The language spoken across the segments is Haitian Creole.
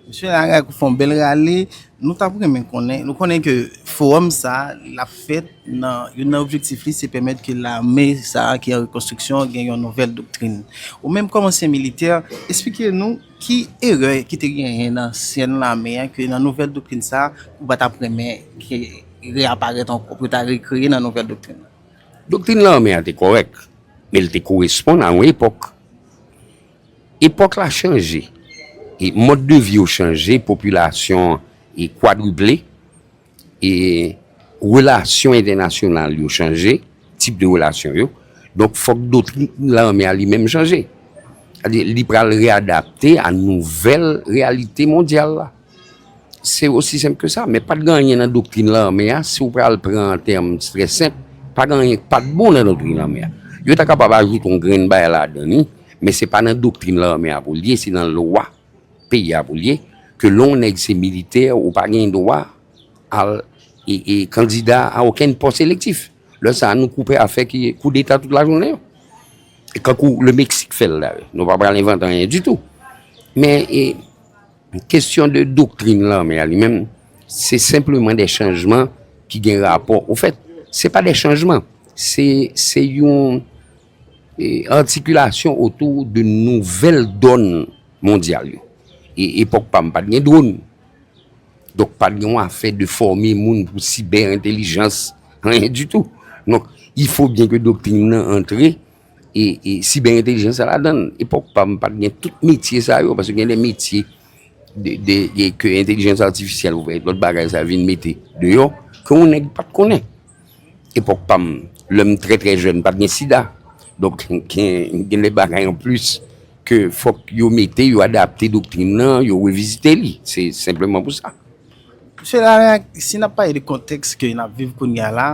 Mesye Laraque ou fè yon bèl rale. Nou tap renmen konnen, nou konnen ke fowòm sa a l ap fèt nan, youn nan objektif li se pèmèt ke lame sa a ki an rekonstriksyon gen yon nouvèl doktrin. Ou menm kòm ansyen militè, esplike nou ki erè ki te genyen nan ansyen lame a ke nan nouvèl doktrin sa a ou pa tap renmen ke reyaparèt ankò, pou yo ta rekreye nan nouvèl doktrin nan? Doktrin lame a te kòrèk, men li te koresponn a yon epòk. Epòk la chanje, mòd de vi yo chanje, popilasyon an kwadriple, relasyon entènasyonal yo chanje, tip de relasyon yo, donk fòk doktrin lame a li menm chanje. Li pral readapte a nouvèl reyalite mondyal la. Se osi senp ke sa, men pat gen anyen nan doktrin lame a, si w pral pran an tèm trè senp, pa gen anyen ki pat bon nan doktrin lame a. Yo ta kapab ajoute yon grenn bagay ladan li, men se pa nan doktrin lame a pou l ye, se nan lwa peyi a pou l ye, ke lè yon nèg se militè, ou pa gen dwa al kandida a okenn pòs elektif. Lè sa a nou koupe a fè koudeta tout lajounen yo. Kankou le Meksik fè l la. Nou pa pral envante anyen ditou. Men e. Kesyon de doktrin lame a li menm, se senpleman de chanjman ki gen rapò. Ou fèt, se pa de chanjman, se yon artikulation otou de nouvel don mondyal yo. E epòk pa m pat gen dron. Donk pat gen yon afè de fòme moun pou sibè entelijans, anyen ditou. Donk, ifo byen ke doktrin nan antre e siber entelijans sa ladan l. Epòk pa m pat gen tout metye sa yo, paske gen de metye ke entelijans atifisyèl oubyen lòt bagay sa vin mete deyò, ke yon nèg pat konnen. Epòk pa m, lè m trè trè jèn, pat gen sida. Donk gen de bagay an plis ke fòk yo mete, yo adapte doktrin nan, yo revizite li. Se senpleman pou sa. Mesye la la, si n ap pale de kontèks ke n ap viv kounye a la,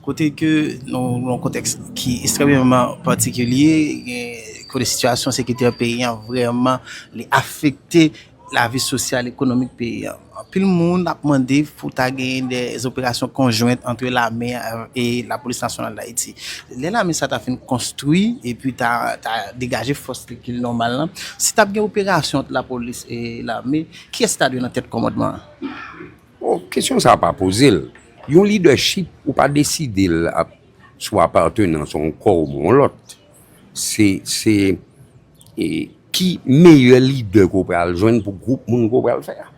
kote ke nou nan yon kontèks ki estrèmeman patikilye, gen kote sitiyasyon sekirite peyi an vrèman li afekte lavi sosyal, ekonomik peyi an. Anpil moun ap mande pou ta genyen de zoperasyon konjwent antre lame a e lapolis nasyonal Dayiti. Lè lame sa ta fin konstwi epi ta degaje fòs li ki nòmal lan, si t ap gen operasyon ant lapolis e lame, Kiyès ta dwe nan tèt kòmandman an? Bon, kesyon sa a pa poze l. Yon lidèchip, ou pa deside l ap sou apatenans yon kò oubyen yon lòt. Se, se ki meyè lidè ke w pral jwenn pou gwoup moun ke w pral fè a.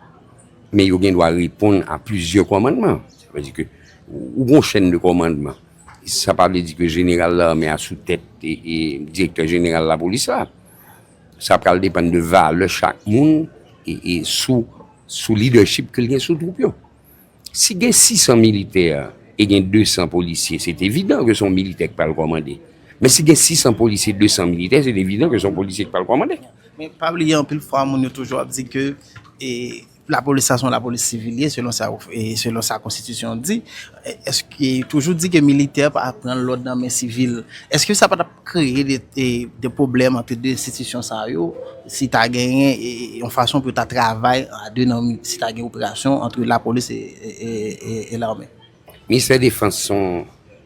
Men yo gen dwa reponn a plizyè kòmandman. Sa vle di ke ou gen yon chèn de kòmandman. Sa pa vle di ke jeneral lame a sou tèt direktè jeneral lapolis la. Sa pral depann de valè chak moun e sou lidèchip ke l gen sou twoup yo. Si gen 600 militè e gen 200 polisye, se te evidan ke se yon militè ki pral kòmande. Men si gen 600 polisye, 200 militè, se te evidan ke se yon polisye ki pral kòmande. Men pa bliye anpil fwa moun yo toujou ap di ke e. Lapolis sa se yon lapolis sivil li ye selon sa ou selon sa konstitisyon an di eske toujou di ke militè pa pran lòd nan men sivil eske sa patap kreye de pwoblèm ante de enstitisyon sa yo si ta genyen yon fason pou yo ta travay a de nan si ta gen operasyon ante lapolis e lame. Ministè defans son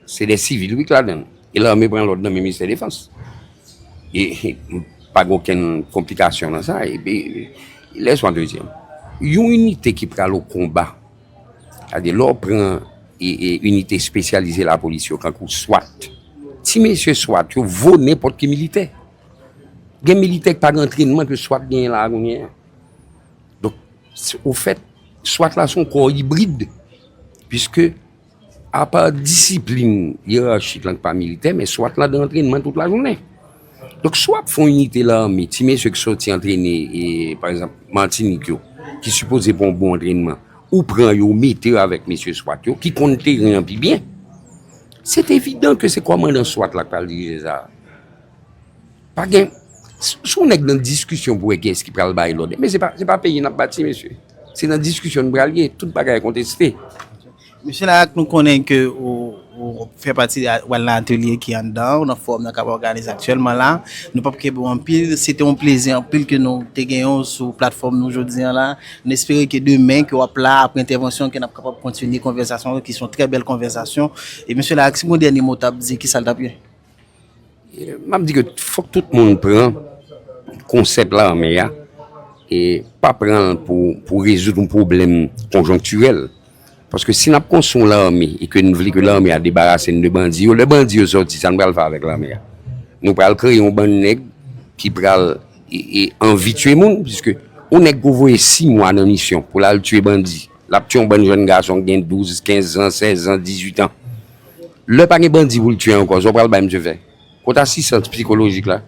se de sivil wi ki ladann e lame pran lòd nan men ministè defans e pa gen okenn konplikasyon nan sa epi lè swa dezyèm yon inite ki pral o konba sa di lò pran e inite espesyalize lapolis yo kankou swat ti mesye swat yo vo nenpòt ki militè gen militè ki pa gen antrenman ke swat genyen la a kounye a. Ofèt, SWAT la se yon kò ibrid, piske apa disiplin yerachik lan ki pa militè, men SWAT la gen antrènman tout lajounen. Donk si w ap fè yon inite lame, ti mesye ki sòti antrene, pa egzanp, Matinik yo, ki sipoze pran yon bon antrènman, ou pran yo, ou mete yo avèk mesye SWAT yo, ki konn teren an pi byen, se evidan ke se kòmandan SWAT la ki pral dirije sa a. Pa gen, si yon nèg nan diskisyon pou wè ki eski pral bay lòd. Men se pa, se pa peyi nap bati mesye. Se nan diskisyon nou pral ye, tout bagay konteste. Mesye Laraque nou konnen ke ou fè pati ou al nan atelye ki anndan ou nan fowòm nan kap òganize aktyèlman la. Nou pap kenbe w anpil, se te yon plezi anpil ke nou te genyen w sou platfòm nou jodi an la. Nou espere ke demen ke wap la apre entèvansyon ke nap kapab kontinye konvèsasyon ki son trè bèl konvèsasyon. E mesye Laraque si gon dènye mo w tap di, ki sa l tap ye? M ap di ke fòk tout moun pran konsèp la anmè a, e pa pran l pou rezoud yon pwoblèm konjonktirèl. Paske si n ap konstwi yon lame e ke n vle ke lame a debarase n de bandi yo, lè bandi yo sòti, sa n pral fè avèk lame a? Nou pral kreye yon bann nèg ki pral anvi tye moun, piske yon nèg ke w voye si mwa nan misyon pou l al tye bandi, l ap tye yon bann jèn gason ki gen douz, kenz zan, sèz zan, dizuit an. Lè pa gen bandi pou l tye ankò, sa w pral bay misye fè? Kot asistans psikolojik la?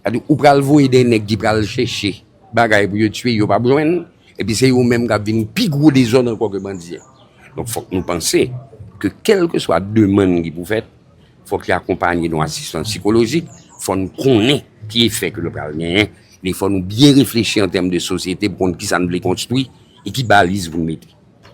Sa di ou pral voye de nèg ki pral chèche bagay pou yo tye, yo p ap jwenn, epi se yo menm k ap vin pi gwo dezòd ankò ke bandi a. Donk fòk nou panse ke kèlkeswa demann ki pou fèt, fòk li akonpanye yon asistans psikolojik, fò n konnen ki efè ke l pral genyen, epi fò nou byen reflechi an tèm de sosyete pou konn kisa n vle konstwi e ki baliz pou n mete.